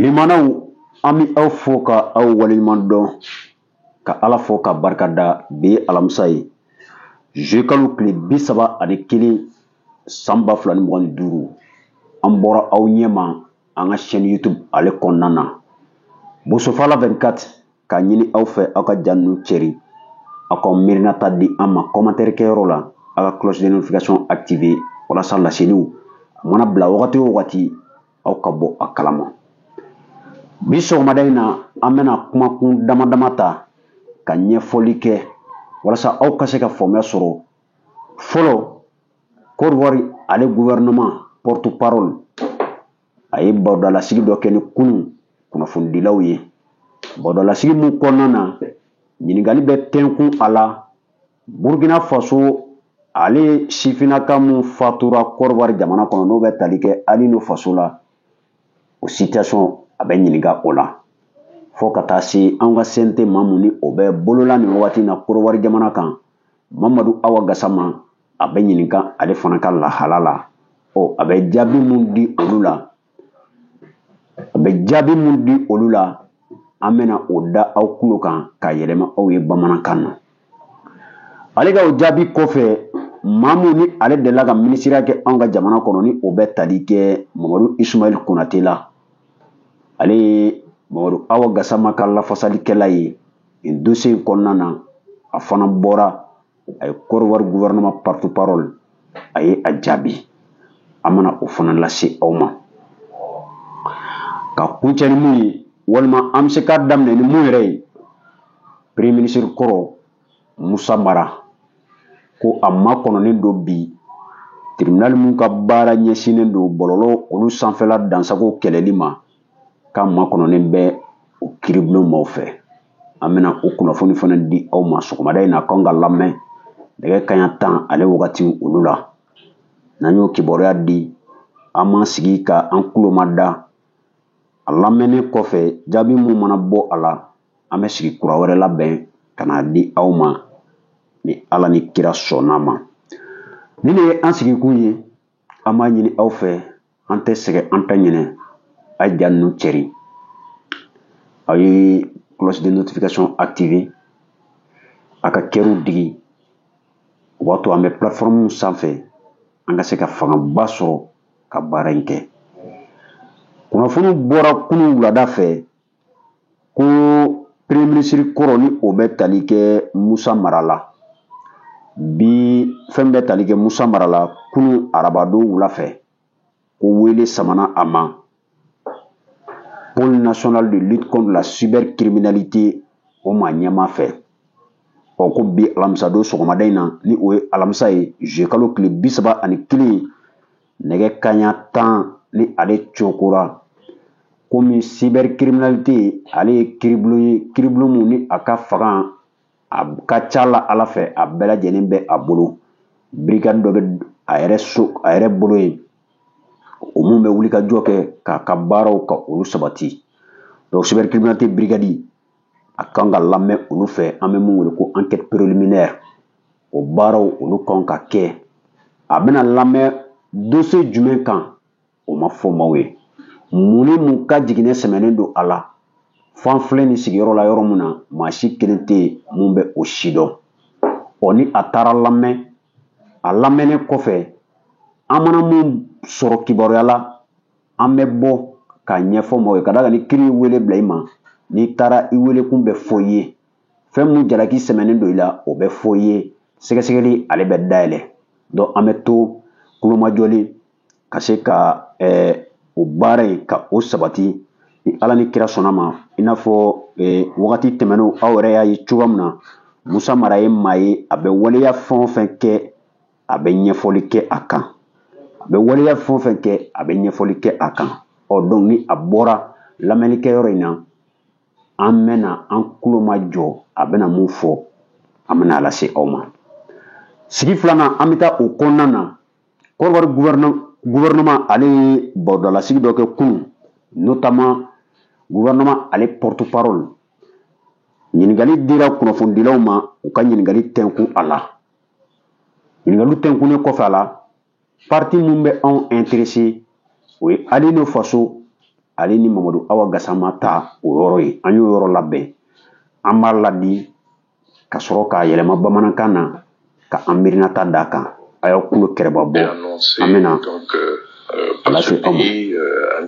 Limanaw an bɛ aw fo ka aw waleɲuman dɔn ka ala fo ka barika da bi ye alamisa ye juillet kalo tile bi saba ani kelen san ba fila ni mugan ni duuru an bɔra aw ɲɛma an ka chaîne YouTube ale kɔnɔna na Bosofala vingt-quatre k'a ɲini aw fɛ aw ka ja ninnu cɛri aw ka miirinata di an ma kɔmantɛri kɛyɔrɔ la aw ka cloche de notification activer walasa laseliw a mana bila wagati o wagati aw ka bɔ a kalama bi sɔgɔmada in na an bɛna kumakun dama dama ta ka ɲɛfɔli kɛ walasa aw ka se ka faamuya sɔrɔ fɔlɔ Côte d'Ivoire ale gouvernement porte-parole a ye barodalasigi dɔ kɛ ni kunun kunnafonidilaw ye barodalasigi min kɔnɔna na ɲininkali bɛ tɛnkun a la burukina faso ale sifinnaka min fatura kɔrɔwari jamana kɔnɔ n'o bɛ tali kɛ Alino faso la o situation a bɛ ɲininka o la fo ka taa se an ka CNT maa mun ni o bɛ bolola nin wagati na kɔrɔwari jamana kan mamadu awa gasama a bɛ ɲininka ale fana ka lahala la ɔ a bɛ jaabi mun di olu la a bɛ jaabi mun di olu la an bɛna o da aw kulo kan ka yɛlɛma aw ye bamanankan na ale ka o jaabi kɔfɛ maa min ni ale delila ka minisiriya kɛ anw ka jamana kɔnɔ ni o bɛ tali kɛ mamadu isumayɛli konate la ale ye mamadu awa gasama ka lafasalikɛla ye nin dossier in kɔnɔna na a fana bɔra a ye kɔrɔwari gouvernement porte-parole a ye a jaabi an bɛna o fana lase aw ma ka kuncɛ ni mun ye walima an bɛ se k'a daminɛ ni mun yɛrɛ ye premier ministre kɔrɔ musa mara ko a makɔnɔnen don bi tribunal min ka baara ɲɛsinnen don bɔlɔlɔ olu sanfɛla dansago kɛlɛli ma k'a makɔnɔnen bɛ o kiiribulon maaw fɛ an bɛna o kunnafoni fana di aw ma sɔgɔmada in na k'an ka lamɛn nɛgɛ kanɲɛ tan ale wagati olu la n'an y'o kibaruya di an b'an sigi ka an kulo mada a lamɛnnen kɔfɛ jaabi mun mana bɔ a la an bɛ sigi kura wɛrɛ labɛn ka n'a di aw ma ni ala ni kira sɔnn'a ma nin de ye an sigikun ye an b'a ɲini aw fɛ an tɛ sɛgɛn an tɛ ɲinɛ a ye ja ninnu cɛri aw ye cloche de notification activer a ka kɛriw digi o b'a to an bɛ plateforme sanfɛ an ka se ka fangaba sɔrɔ ka baara in kɛ kunnafoniw bɔra kunun wulada fɛ ko premier ministre kɔrɔ ni o bɛ tali kɛ musa mara la bi fɛn bɛ tali kɛ musa mara la kunun arabadon wula fɛ ko wele samana a ma pôle national de lutte contre la cybercriminalité o maa ɲɛmaa fɛ ɔ ko bi alamisadon sɔgɔmada in na ni o ye alamisa ye zuye kalo tile bi saba ani kelen nɛgɛ kanɲɛ tan ni ale cokora komi cybercriminalité ale ye kiribulon ye kiribulon mun ni a ka fanga a ka ca la ala fɛ a bɛɛ lajɛlen bɛ a bolo brigade dɔ bɛ a yɛrɛ so a yɛrɛ bolo yen o mun bɛ wulikajɔ kɛ k'a ka baaraw ka olu sabati donc cybercriminalité brigade a kan ka lamɛn olu fɛ an bɛ mun wele ko enquête préliminaire o baaraw olu kan ka kɛ a bɛna lamɛn dossier jumɛn kan o ma fɔ maaw ye mun ni mun ka jiginɛ sɛmɛnen don a la f'an filɛ nin sigiyɔrɔ la yɔrɔ min na maa si kelen tɛ yen mun bɛ o si dɔn ɔ ni a taara lamɛn a lamɛnnen kɔfɛ an mana mun sɔrɔ kibaruya la an bɛ bɔ k'a ɲɛfɔ maaw ye ka d'a kan ni kiri ye wele bila i ma n'i taara i welekun bɛ fɔ i ye fɛn mun jalaki sɛmɛnen don i la o bɛ fɔ i ye sɛgɛsɛgɛli ale bɛ dayɛlɛ donc an bɛ to kulomajɔlen ka se ka eh, o baara in ka o sabati ni ala ni kira sɔnna ma i n'a fɔ eh, wagati tɛmɛnenw aw yɛrɛ y'a ye cogoya min na musa mara ye maa ye a bɛ waleya fɛn o fɛn kɛ a bɛ ɲɛfɔli kɛ a kan a bɛ waleya fɛn o fɛn kɛ a bɛ ɲɛfɔli kɛ a kan ɔ donc ni a bɔra lamɛnnikɛyɔrɔ in na an bɛna an kulomajɔ a bɛna mun fɔ an bɛna a lase aw ma sigi filanan an bɛ taa o kɔnɔna na kɔrɔwari gouvernement ale ye barodalasigi dɔ kɛ kunun notamment gouvernement ale porte parole ɲininkali dira kunnafonidilaw ma u ka ɲininkali tɛnkun a la ɲininkaliw tɛnkunnen kɔfɛ a la partie min bɛ anw intéresser o ye alino faso ale ni mamadu awa gasama ta o yɔrɔ ye an y'o yɔrɔ labɛn an b'a ladi ka sɔrɔ k'a yɛlɛma bamanankan na ka an miirinata d'a kan a y'aw kulo kɛrɛba bɔ an bɛna euh, euh, lase aw ma euh,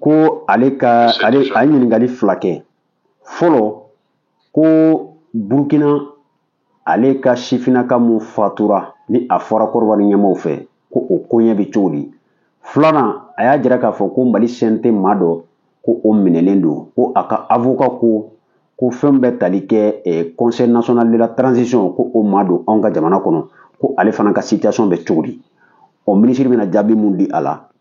ko ale ka ale a ye ɲininkali fila kɛ fɔlɔ ko burukina ale ka sifinnaka mun fatura ni a fɔra kɔrɔwari ɲɛmaaw fɛ ko o koɲɛ bɛ cogo di filanan a y'a jira k'a fɔ ko mali cnt maa dɔ ko o minɛlen don ko a ka avocat ko ko fɛn bɛ tali kɛ eh, conseil national de la transition ko o maa don anw ka jamana kɔnɔ ko ale fana ka situation bɛ cogo di ɔ minisiri bɛna jaabi mun di a la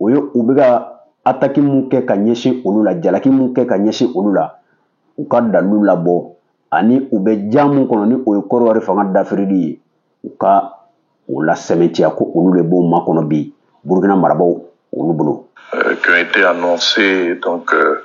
o ye u bɛ ka ataki mun kɛ ka ɲɛsin olu la jalaki mun kɛ ka ɲɛsin olu la u ka dalilu labɔ ani u bɛ ja mun kɔnɔ ni o ye kɔdiwari fanga dafirili ye u ka o lasɛmɛntiya ko olu de b'o makɔnɔ bi burukina marabaaw olu bolo. Euh, qui ont été annoncés donc euh,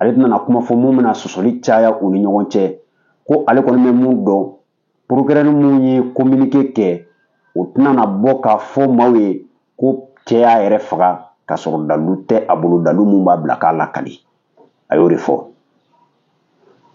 ale tɛna na kuma fɔ mun bɛna sɔsɔli caya u ni ɲɔgɔn cɛ ko ale kɔni bɛ mun dɔn procureur mun ye kominike kɛ o tɛna na bɔ k'a fɔ maaw ye ko cɛ y'a yɛrɛ faga k'a sɔrɔ dalu tɛ a bolo dalu mun b'a bila k'a lakali a y'o de fɔ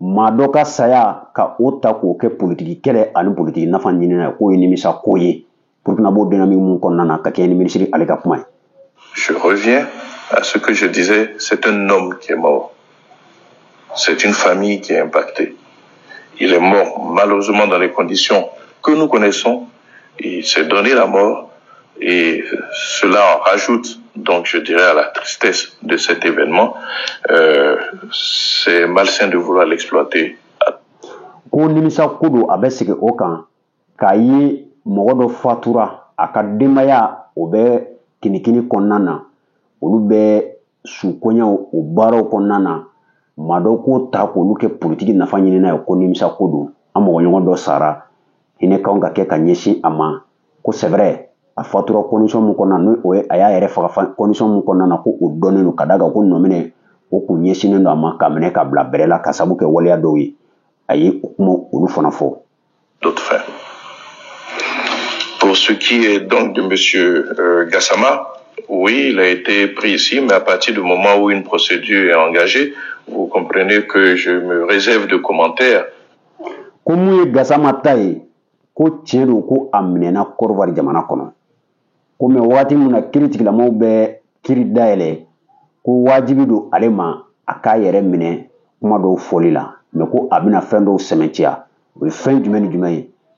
maa dɔ ka saya ka o ta k'o kɛ politiki kɛlɛ ani politiki nafa ɲinina k'o ye nimisa ko ye burkina b'o dynamique mun kɔnɔna na ka kɛɲɛ ni minisiri ale ka kuma ye Je reviens à ce que je disais, c'est un homme qui est mort. C'est une famille qui est impactée. Il est mort malheureusement dans les conditions que nous connaissons Il s'est donné la mort. Et cela en rajoute, donc je dirais, à la tristesse de cet événement. Euh, c'est malsain de vouloir l'exploiter. ko nimisa ko don a bɛ segin o kan k'a ye mɔgɔ dɔ fatura a ka denbaya o bɛ kinikini kɔnɔna na olu bɛ sukoɲɛw o baaraw kɔnɔna na maa dɔ k'o ta k'olu kɛ politiki nafa ɲinina ye ko nimisa ko don an mɔgɔ ɲɔgɔn dɔ sara hinɛ kan ka kɛ ka ɲɛsin a ma ko c'est vrai a fatura condition min kɔnɔna n'o ye a y'a yɛrɛ faga condition mun kɔnɔna na ko o dɔnnen don ka d'a kan ko nɔminɛ o kun ɲɛsinnen don a ma k'a minɛ k'a bila bɛrɛ la k'a sabu kɛ waleya dɔw ye a ye o kuma olu fana fɔ Pour ce qui est donc de Monsieur euh, Gassama, oui, il a été pris ici, mais à partir du moment où une procédure est engagée, vous comprenez que je me réserve de commentaires ko mun ye gasama ta ye ko tiɲɛ don ko a minɛna kɔdiwari jamana kɔnɔ ko mɛ wagati min na kiritigɛlamaaw bɛ kiri dayɛlɛ ko wajibi don ale ma a k'a yɛrɛ minɛ kuma dɔw fɔli la mɛ ko a bɛna fɛn dɔw sɛmɛntiya o ye fɛn jumɛn ni jumɛn ye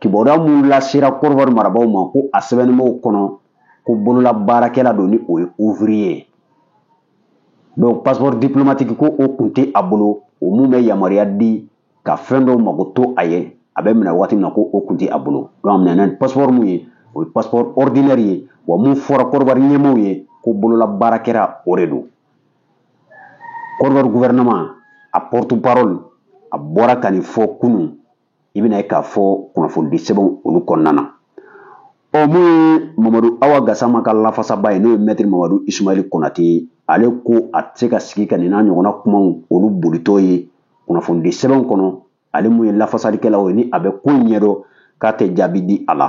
kibaruya mun lasera kɔdiwari marabaaw ma ko a sɛbɛnnimaw kɔnɔ ko bolola baarakɛla don ni o ye ouvrier ye donc passeport diplomatique ko o kun tɛ a bolo o mun bɛ yamaruya di ka fɛn dɔw makoto a ye a bɛ minɛ waati min na ko o kun tɛ a bolo donc a minɛna ni passeport mun ye o ye passeport ordinaire ye wa mun fɔra kɔdiwari ɲɛmaaw ye ko bolola baarakɛla o de don kɔdiwari gouvernement a porte-parole a bɔra ka nin fɔ kunun i bɛn'a ye k'a fɔ kunnafonidi sɛbɛnw olu kɔnɔna na ɔ mun ye mamadu awa gasama ka lafasabaa ye n'o ye mɛtiri mamadu ismaili konate ye ale ko a tɛ se ka sigi ka nin n'a ɲɔgɔnna kumaw olu bolitɔ ye kunnafonidi sɛbɛnw kɔnɔ ale mun ye lafasalikɛlaw ye ni a bɛ ko ɲɛdɔn k'a tɛ jaabi di a la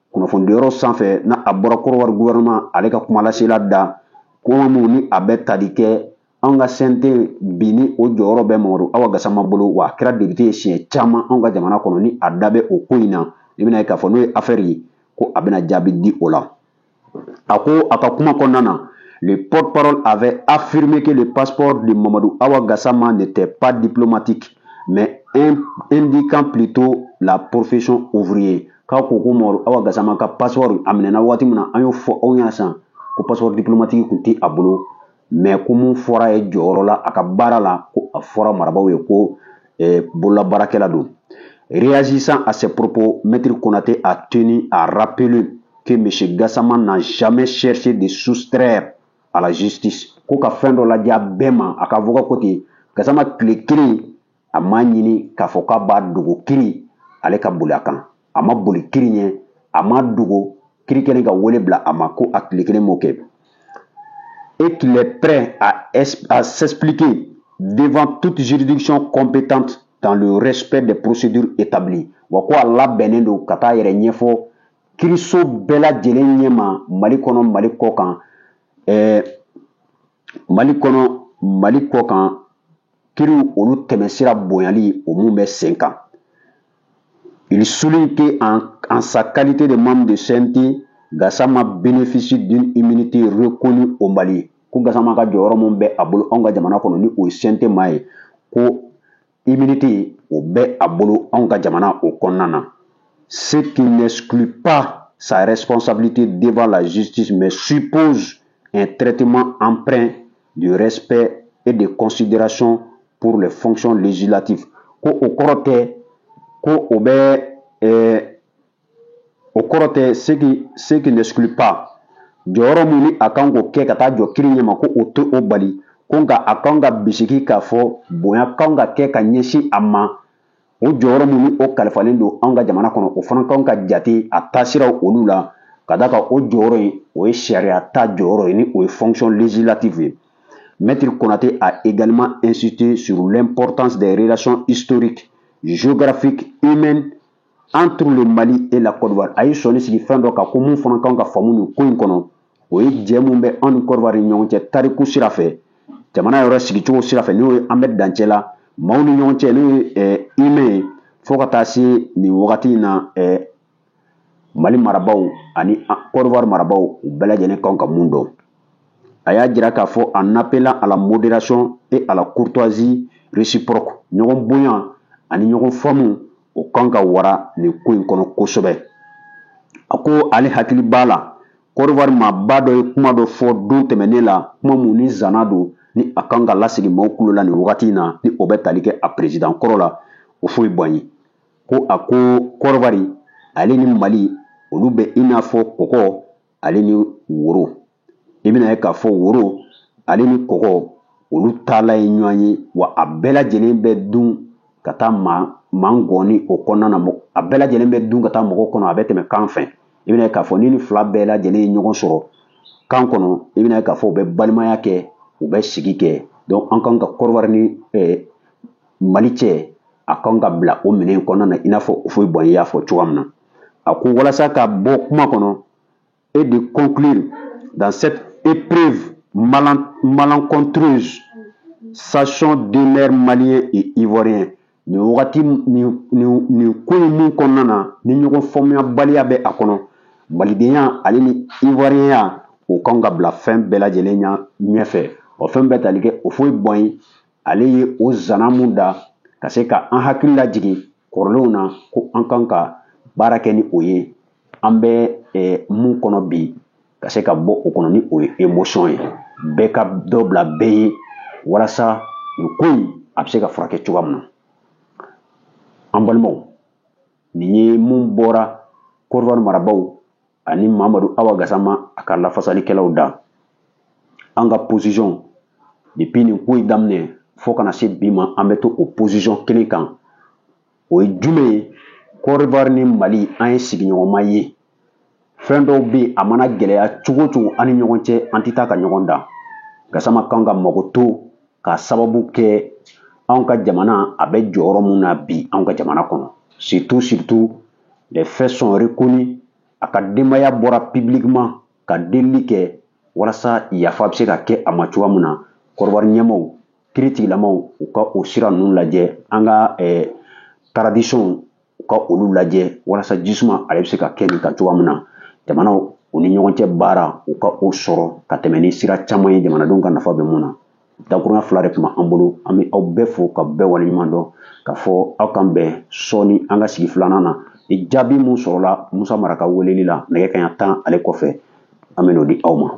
kunnafonidiyɔrɔ sanfɛ n'a bɔra Côte d'Ivoire gouvernement ale ka kumalasela da kuma mun ni a bɛ tali kɛ anw ka CNT bi ni o jɔyɔrɔ bɛ Mamadu Awa Gasama bolo wa a kɛra député ye siɲɛ caman anw ka jamana kɔnɔ ni a da bɛ o ko in na i bɛna ye k'a fɔ n'o ye affaire ye ko a bɛna jaabi di o la a ko a ka kuma kɔnɔna na le porte-parole avait affirmé que le passeport de Mamadou Awa Gassama n'était pas diplomatique mais indiquant plutôt la profession ouvrier k'a ko ko Mamadu Awa Gasama ka passeport a minɛna waati min na an y'o fɔ aw ɲɛna sisan ko passeport diplomatique kun tɛ a bolo mais ko mun fɔra ye jɔyɔrɔ la a ka baara la ko a fɔra marabaaw ye ko eh, bololabaarakɛla don réagissant à ces propos Maître Konaté a tenu à rappeler que M. Gassama n'a jamais cherché de soustraire à la justice ko ka fɛn dɔ lajɛya bɛɛ ma a ka avocat ko ten gasama tile kelen a m'a ɲini k'a fɔ k'a b'a dogo kiri ale ka boli a kan a ma boli kiri ɲɛ a ma dogo kiri kɛlen ka wele bila a ma ko a tile kelen m'o kɛ et qu'il est prêt à, à s'expliquer devant toute juridiction compétente dans le respect des procédures établies wa ko a labɛnnen don ka taa yɛrɛ ɲɛfɔ kiriso bɛɛ lajɛlen ɲɛma mali kɔnɔ mali kɔ kan ɛɛ mali kɔnɔ mali kɔ kan kiriw olu tɛmɛsira bonyali o mun bɛ sen kan il souligne que en, en sa qualité de membre de CNT Gassama bénéficie d'une immunité reconnue au Mali ko Gassama ka jɔyɔrɔ mun bɛ a bolo anw ka jamana kɔnɔ ni o ye CNT maa ye ko immunité o bɛ a bolo anw ka jamana o kɔnɔna na ce qui n'exclut pas sa responsabilité devant la justice mais suppose un traitement empreint de respect et de considération pour les fonctions législatives ko o kɔrɔ tɛ ko o bɛ ɛɛ o kɔrɔ tɛ ce qui ce qui n'exclut pas jɔyɔrɔ min ni a kan k'o kɛ ka taa jɔ kiri ɲɛma ko o tɛ o bali ko nka a kan ka bisigi k'a fɔ bonya kan ka kɛ ka ɲɛsin a ma o jɔyɔrɔ min ni o kalifalen don anw ka jamana kɔnɔ o fana kan ka jate a taasiraw olu la ka d'a kan o jɔyɔrɔ in o ye sariya ta jɔyɔrɔ ye ni o ye fonction législative ye Maître Konaté a également insisté sur l'importance des relations historiques, géographiques, humaines entre le Mali et la Côte d'Ivoire. A y'i sɔnin sigi fɛn dɔ kan ko mun fana kan ka faamu nin ko in kɔnɔ o ye jɛ mun bɛ anw ni Côte d'Ivoire ni ɲɔgɔn cɛ tariku sira fɛ jamana yɛrɛ sigicogo sira fɛ n'o ye an bɛ dancɛ la maaw ni ɲɔgɔn cɛ n'o ye humain ye fo ka taa se nin wagati in na mali marabaaw ani Côte d'Ivoire marabaaw u bɛɛ lajɛlen kan ka mun dɔn a y'a jira k'a fɔ en appelant à la modération et à la courtoisie réciproque ɲɔgɔn bonya ani ɲɔgɔn faamu o kan ka wara nin ko in kɔnɔ kosɛbɛ a ko ale hakili b'a la Côte d'Ivoire maaba dɔ ye kuma dɔ fɔ don tɛmɛnen la kuma mun ni zana don ni a kan ka lasigi maaw tulo la nin wagati in na ni o bɛ tali kɛ a perezidan kɔrɔ la Houphouët-Boigny ko a ko Côte d'Ivoire ale ni mali olu bɛ i n'a fɔ kɔkɔ ale ni woro i bɛna ye k'a fɔ woro ale ni kɔkɔ olu taala ye ɲɔgɔn ye wa a bɛɛ lajɛlen bɛ dun ka taa maa maa gɔni o kɔnɔna na a bɛɛ lajɛlen bɛ dun ka taa mɔgɔ kɔnɔ a bɛ tɛmɛ kan fɛ i bɛna ye k'a fɔ ni nin fila bɛɛ lajɛlen ye ɲɔgɔn sɔrɔ kan kɔnɔ i bɛna ye k'a fɔ u bɛ balimaya kɛ u bɛ sigi kɛ donc an kan ka Côte d'Ivoire ni mali cɛ a kan ka bila o minɛn kɔnɔna na i n'a fɔ Houphouët-Boigny y'a fɔ cogoya min na a ko walasa ka bɔ kuma kɔnɔ et de conclure dans cette épreuve malencontreuse sachons demeurer malien et ivoirien nin wagati nin ko in mun kɔnɔna na ni ɲɔgɔn faamuyabaliya bɛ a kɔnɔ malidenya ale ni ivoirienya o kan ka bila fɛn bɛɛ lajɛlen ɲɛfɛ o fɛn bɛ tali kɛ Houphouët-Boigny ale ye o zana mun da ka se ka an hakili lajigin kɔrɔlenw na ko an kan ka baara kɛ ni o ye an bɛ mun kɔnɔ bi ka se ka bɔ o kɔnɔ ni o ye émotion ye bɛɛ ka dɔ bila bɛɛ ye walasa nin ko in a bɛ se ka furakɛ cogoya min na an balimaw nin ye mun bɔra Côte d'Ivoire marabaaw ani mamadu awa gasama a ka lafasalikɛlaw da an ka position depuis nin ko in daminɛ fo ka na se bi ma an bɛ to o position kelen kan o ye jumɛn ye Côte d'Ivoire ni mali an ye sigiɲɔgɔnma ye fɛn dɔw bɛ yen a mana gɛlɛya cogo o cogo an ni ɲɔgɔn cɛ an tɛ taa ka ɲɔgɔn dan gasama kan ka makoto k'a sababu kɛ anw ka jamana a bɛ jɔyɔrɔ min na bi anw ka jamana kɔnɔ surtout surtout les faits sont reconnus a ka denbaya bɔra publiquement ka delili kɛ walasa yafa bɛ se ka kɛ a ma cogoya min na Côte d'Ivoire ɲɛmɔgɔw kiritigilamaw u ka o sira ninnu lajɛ an ka taradisɔnw u ka olu lajɛ walasa ji suma ale bɛ se ka kɛ nin kan cogoya min na jamanaw u ni ɲɔgɔn cɛ baara u ka o sɔrɔ ka tɛmɛ ni sira caman ye jamanadenw ka nafa bɛ mun na dakurunya fila de tun b'an bolo an bɛ aw bɛɛ fo ka bɛɛ waleɲuman dɔn k'a fɔ aw k'an bɛn sɔɔni an ka sigi filanan na ni jaabi mun sɔrɔla musa mara ka weleli la nɛgɛ kanɲɛ tan ale kɔfɛ an bɛ n'o di aw ma